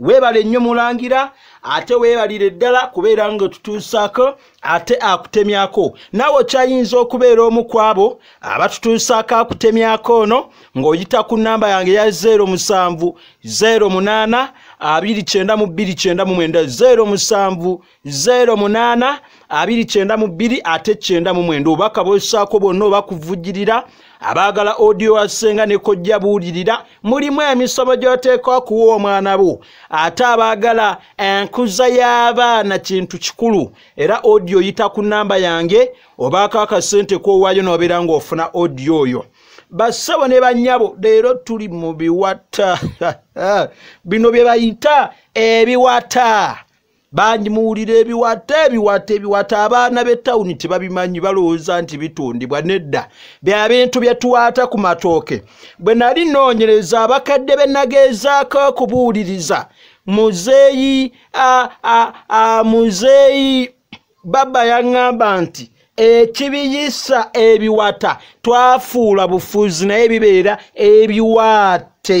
weebale nnyo mulangira ate weebalire ddala kubeera nga otutuusaako ate akutemyako naawe okyayinza okubeera omu ku abo abatutuusaako akutemyako ono ng'oyita ku nnamba yange ya 0 musanvu 0 munaana 2 kyenda mu 2 kyenda mu mwenda 0 musanvu zeero munaana abiri kyenda mu bbiri ate kyenda mu mwenda obubaka bwesaako bwonna oba kuvujirira abaagala audio wasenga ne kojja buulirira mulimu emisomo gy'oteekwa kuwa omwana bo ate abaagala enkuza y'abaana kintu kikulu era audio yita ku nnamba yange obaako akasente k'owaayo n'obeera ng'ofuna audio oyo bassebo ne bannyabo leero tuli mu biwata bino bye bayita ebiwata bangi muwulira ebiwata ebiwata ebiwata abaana b'ettawuni tebabimanyi balowooza nti bitundibwa nedda bya bintu bye tuwaata ku matooke bwe nali nnoonyereza abakadde be nageezaako okubuuliriza muzeeyi muzeeyi baba yaŋŋamba nti ekibiyisa ebiwata twafuula bufuzi naye bibeera ebiwaate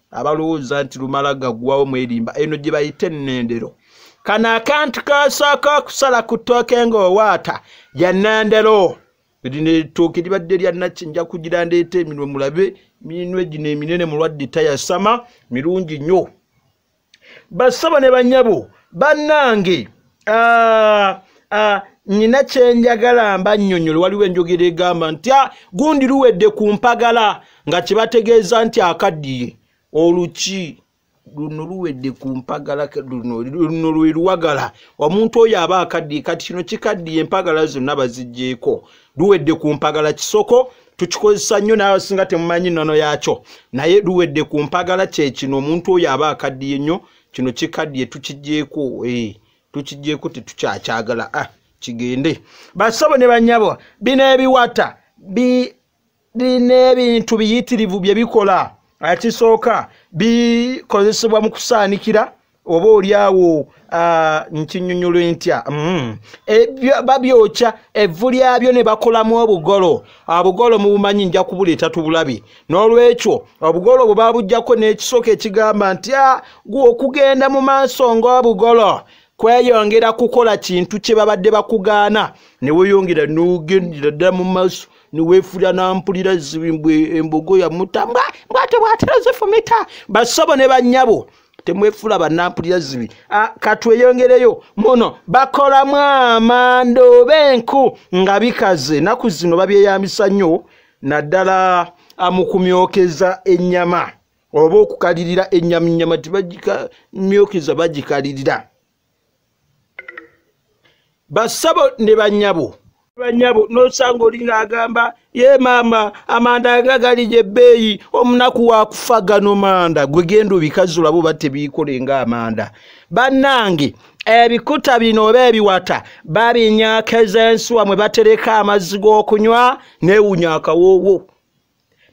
abalowooza nti lumala gaggwawo mwerimba eno gye bayita ennendero kano akantu kasooka okusala ku ttooke ng'owaata ya nnendero lino ettooke libadde lya nakki nja kugira ndeeta eminwe mulabe minwe gino eminene mulwadde tayasama mirungi nnyo bassabo ne banyabo bannange Ah, ah, nina kyenjagala mba nnyonyola waliwo enjogera egamba nti ah, gundi luwedde ku mpagala nga kyebategeeza nti akaddiye oluki luno luwedde ku mpagala luno lwe luwagala omuntu oyo aba akaddiye kati kino kikaddiye empagala zonna baziggyeko luwedde ku mpagala kisoko tukikozesa nnyo naawe singa temumanyi nnono yaakyo naye luwedde ku mpagala kyekino omuntu oyo aba akaddiye nnyo kino kikadye tukijeeko eh, tukijeeko tetukyakyagala ah, kigende basabo ne banyabo bino ebiwata birina ebintu biyitirivu bye bikola ekisooka bikozesebwa mu kusaanikira oba olyawo ah, nkinyonyola entya mm. e, babyokya evvu lyabyo ne bakolamu obugolo obugolo mubumanyi nja kubuleeta tubulabi n'olwekyo obugolo bwe babujjako n'ekisooka ekigamba nti a ah, gwe okugenda mu maaso ng'obugolo kweyongera kukola kintu kye babadde bakugaana ne weeyongera n'ogendera ddala mu maaso ne weefuula nampulira zimbwe embogo yamuta mbwate bwatera zifumita bassabo ne bannyabo temwefula banampulira zibi ah, katweyongereyo muno bakolamu amanda oba enku nga bikaze naku zino babyeyambisa nnyo naddala amukumyokeza ennyama oba okukalirira ennyama ennyama tibagikamyokeza bagikalirira basabo ne banyabo banyabo nosanga olinga agamba ye maama amanda nga gali gyebbeeyi omunaku wakufa gano manda gwe genda obikazulabo oba tebiikole nga amanda bannange ebikuta bino oba ebiwata babinyakeza ensuwa mwe batereka amazzi g'okunywa neewunya akawoowo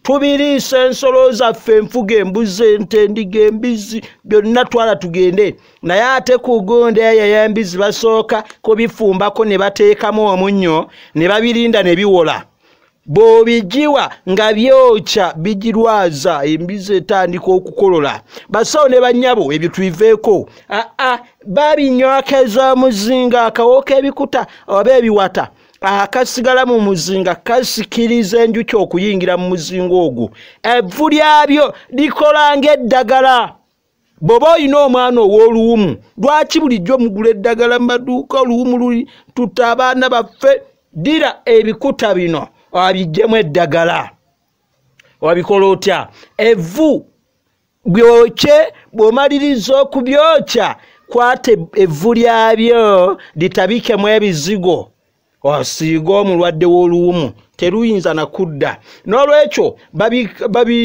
tubiriisa ensolo zaffe enfuga embuzi ente endiga embizzi byonna twala tugende naye ate ku gonda eyo yembizzi basooka kubifumbako ne bateekamu omunnyo ne babirinda ne biwola bw'obigiwa nga byokya bigirwaza embizi etandika okukolola basawo ne bannyabo ebyo tubiveeko aa babinywako ez'omuzinga akawooka ebikuta oba ebiwata akasigala mu muzinga kasikiriza enjuki okuyingira mu muzinga ogwo evvu lyabyo likola ng'eddagala bw'oba olina omwana ow'oluwumu lwaki bulijjo mugula eddagala mu maduuka oluwumu luli tutta abaana baffe ddira ebikuta bino abiggyemu eddagala wabikola otya evvu byokye bw'omaliriza okubyokya kwata evvu lyabyo litabikemu ebizigo osiiga omulwadde w'oluwumu teruyinza na kudda n'olwekyo babi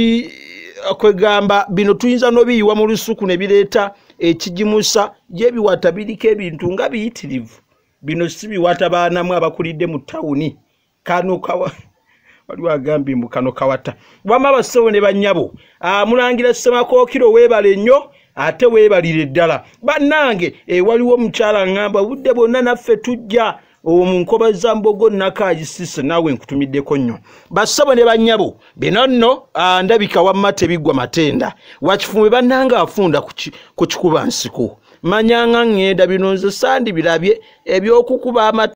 kwegamba bino tuyinza n'obiyiwa mu lusuku ne bireeta ekigimusa gyebiwata biriko ebintu nga biyitirivu bino si biwata baanamu abakulidde mu tawuni kano kawa waliwo agambye mbu kano kawata wama abasawo ne banyabo ah, mulangira semakookiro weebale nnyo ate weebalire ddala bannange e, waliwo omukyala ngamba obudde bwonna naffe tujja omu nkoba za mbogo nakagisise naawe nkutumiddeko nnyo basabo ne banyabo bino nno ah, ndabika wamma tebiggwa matenda wakifumbe bannange afunda ku kikuba nsiko manyanga ŋŋenda bino nze sandi birabye ebyokukuba amatu